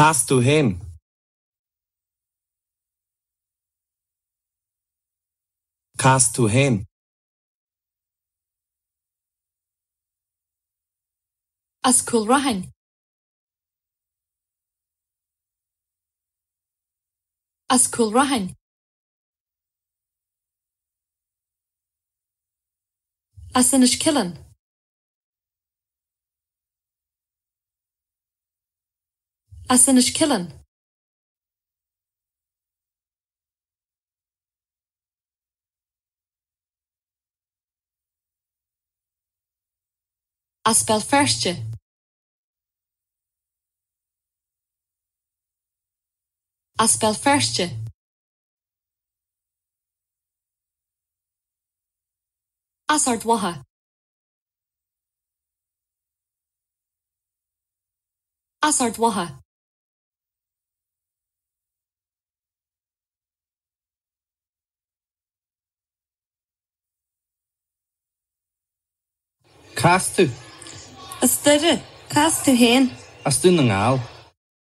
Cá as tú fhéin? Cá as tú fhéin? As Cúl Rathain. As Cúl Rathain. As Inis Ceithleann. As Inis Ceithleann. As Béal Feirste. As Béal Feirste. as Ard Mhacha. as Ard Mhacha. Cá as tú? As Doire. Cá as tú féin? As Dún na nGall.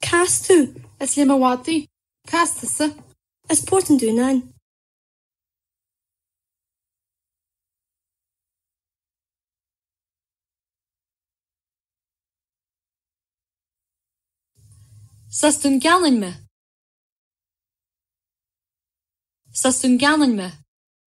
Cá as tú? As Léim an Mhadaidh. Cá as tusa? As Port an Dúnáin. Is as Dún Geanainn mé. Is as Dún Geanainn mé.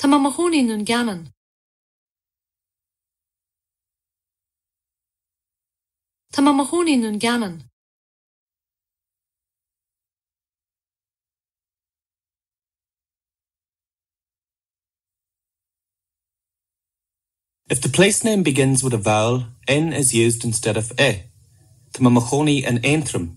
Tá mé mo chónaí i nDún Geanainn. Tá mé mo chónaí i nDún Geanainn. If the place-name begins with a vowel, in is used instead of i, Tá mé mo chónaí in Aontroim.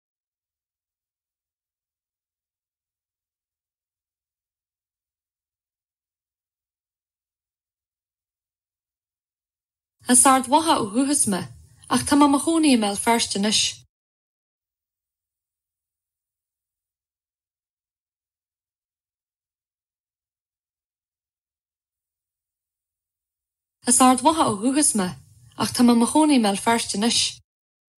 As Ard Mhacha ó dhúchas mé, ach tá mé mo chónaí i mBéal Feirste anois. As Ard Mhacha ó dhúchas mé, ach tá mé mo chónaí i mBéal Feirste anois.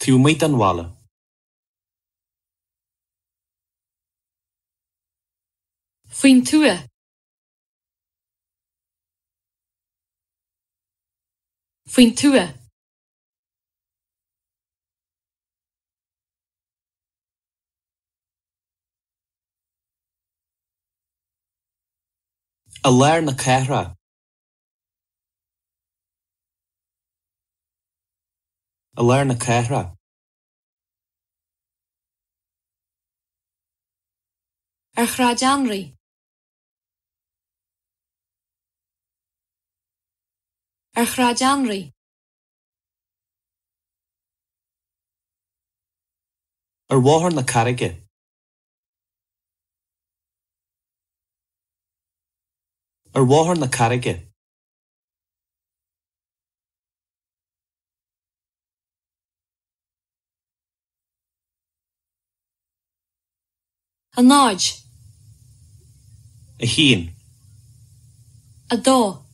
Taobh amuigh den bhaile. Faoin tuath. Faoin tuath. I lár na cathrach. I lár na cathrach. Ar Shráid Anraí. Ar Shráid Anraí. Ar Bhóthar na Carraige. Ar Bhóthar na Carraige. A náid. A haon. A dó.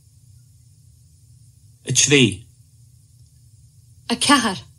A trí. A ceathair.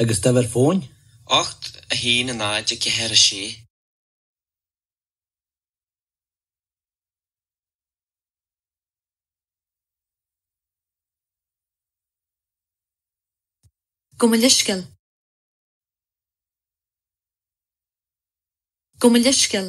agus d'uimhir fóin. ocht a haon a náid a ceathair a sé. Gabh mo leithscéal. Gabh mo leithscéal.